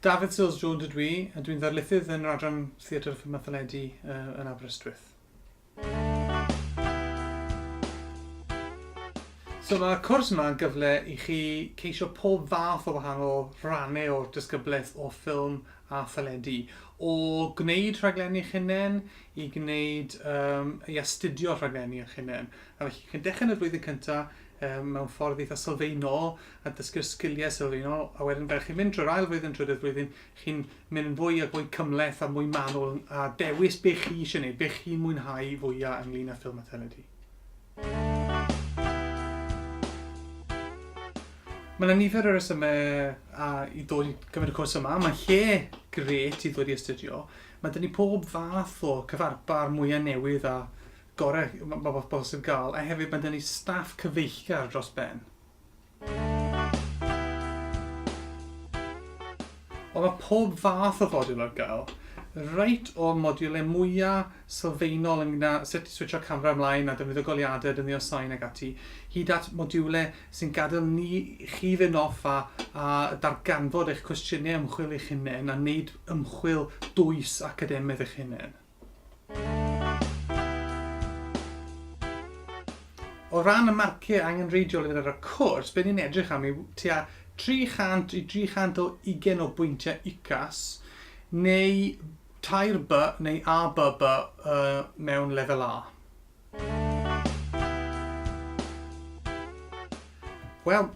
Dafydd Seales Jones ydw i, a dwi'n ddarlithydd yn yr Adran Theatr a Ffilmiau Teledu yn Aberystwyth. So mae'r cwrs yma yn gyfle i chi ceisio pob fath o wahanol rannau o'r disgyblaeth o ffilm a theledu. O gwneud rhaglenni eich hunain i gwneud, um, i astudio rhaglenni eich hunain. A felly chi'n dechrau yn y flwyddyn cyntaf um, mewn ffordd eitha sylfaenol a dysgu'r sgiliau sylfaenol, a wedyn fel chi'n mynd trwy'r ail flwyddyn, trydydd flwyddyn, chi'n mynd yn fwy a fwy cymhleth a mwy manwl a dewis be chi eisiau gwneud, be chi'n mwynhau fwyaf ynglyn â ffilm a theledu. Mae yna nifer o resymau a, i ddod i gymryd y cwrs yma. Mae'n lle gret i ddod i astudio. Mae dyn ni pob fath o cyfarpar mwyaf newydd a gorau mae bosib gael, a hefyd mae dyn ni staff cyfeillgar dros ben. Ond mae pob fath o fodiwl ar gael, reit o'r modiwlau mwya' sylfaenol ynglŷn â sut i switsio camera ymlaen a defnyddio goleuadau, defnyddio sain ac ati, hyd at modiwlau sy'n gadael ni chi fynd off a, a darganfod eich cwestiynau ymchwil eich hunain a wneud ymchwil dwys academaidd eich hunain. O ran y marciau angenrheidiol i ddod ar y cwrs, be ni'n edrych am yw tua 300 i 300 o ugen o bwyntiau UCAS neu tair B neu ABB mewn lefel A. Wel,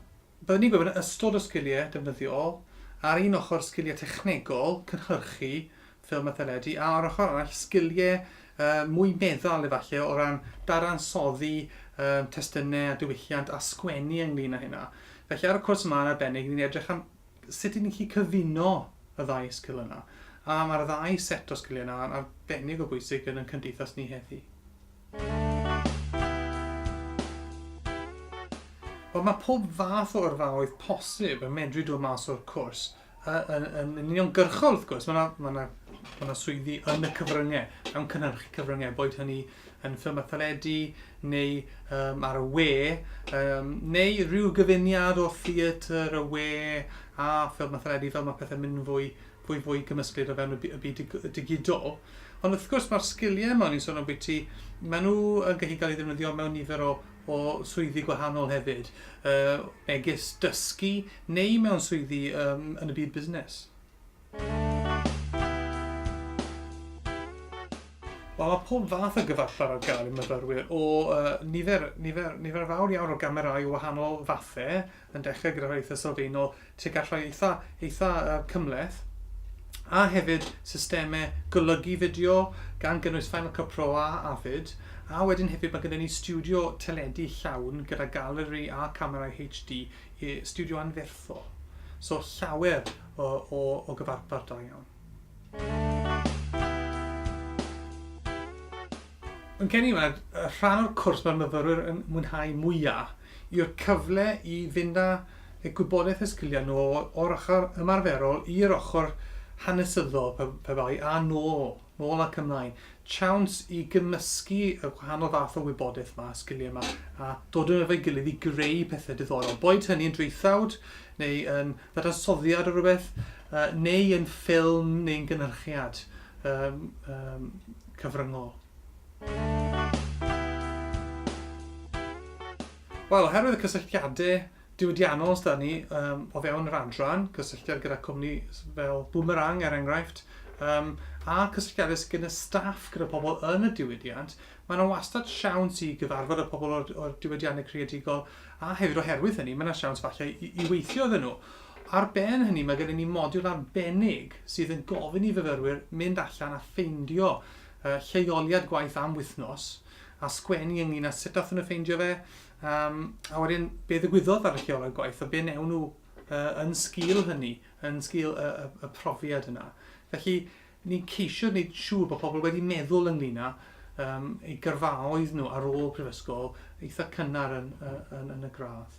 byddwn ni'n gwybod yn ystod o sgiliau defnyddiol, ar un ochr sgiliau technegol, cynhyrchu, ffilm a theledu, a o'r ochr arall sgilie yy mwy meddal efalle o ran dadansoddi yym testune a diwylliant a sgwennu ynglŷn â hynna. Felly ar y cwrs yma yn arbennig ni'n edrych am sut i ni'n gallu cyfuno y ddau sgil yna. A mae'r ddau set o sgilie yna yn arbennig o bwysig yn 'yn cymdeithas ni heddi. Wel mae pob fath o yrfaoedd posib yn medru dod mas o'r cwrs. A yn, yn, yn uniongyrchol, wrth gwrs, mae yna ma ma, ma ma swyddi yn y cyfryngau, mewn cynhyrchu cyfryngau, boed hynny yn ffilm a theledu, neu um, ar y we, um, neu rhyw gyfuniad o theatr, y we, a ffilm a theledu, fel mae pethau'n mynd fwy, fwy, fwy gymysglyd o fewn y byd digidol. Ond wrth gwrs mae'r sgiliau yma, ni'n sôn am bwyty, maen nhw yn gallu cael ei ddefnyddio mewn nifer o o swyddi gwahanol hefyd, megis dysgu neu mewn swyddi yn y byd busnes. Wel, mae pob fath o gyfarpar ar gael i myfyrwyr o nifer, nifer, nifer fawr iawn o gamerau o wahanol fathau, yn dechrau gyda rhai eitha' sylfaenol tuag at rhai eitha' eitha' yy cymhleth, a hefyd systemau golygu fideo gan gynnwys Final Cut Pro a Avid, a wedyn hefyd mae gyda ni stiwdio teledu llawn gyda galeri a camerâu HD, i- stiwdio anferthol. So llawer o o o gyfarpar da iawn. Yn gen i, mae'r rhan o'r cwrs mae'r myfyrwyr yn mwynhau mwyaf yw'r cyfle i fynd â y gwybodaeth a sgiliau nhw o'r ochr ymarferol i'r ochr hanesyddol pe, pe bai, a nôl, nôl ac ymlaen. Chawns i gymysgu y gwahanol fath o wybodaeth yma, sgiliau yma, a dod yn efo'i gilydd i greu pethau diddorol. Boed hynny yn draethawd, neu yn ddadansoddiad o rywbeth, neu yn ffilm neu'n gynhyrchiad cyfryngol. Wel, oherwydd y cysylltiadau diwydiannol sydd 'da ni o fewn yr adran, cysylltiad gyda cwmni fel Boomerang er enghraifft, a'r cysylltiadau sydd gyda staff gyda pobl yn y diwydiant, mae yna wastad siawns i gyfarfod y pobl o'r diwydiannau creadigol A hefyd oherwydd hynny, mae 'na siawns falle i, i weithio iddyn nhw. Ar ben hynny, mae gennym ni modiwl arbennig sydd yn gofyn i fyfyrwyr mynd allan a ffeindio uh, lleoliad gwaith am wythnos a sgwennu ynglyn â sut dathon nhw ffeindio fe, um, a wedyn be ddigwyddodd ar y lleoliad gwaith a be newn nhw uh, yn sgil hynny, yn sgil y, y, y profiad yna. Felly, Ni'n ceisio gwneud siŵr bod pobl wedi meddwl ynglŷn â yym eu gyrfaoedd nhw ar ôl prifysgol eitha' cynnar yn y yn yn y gradd.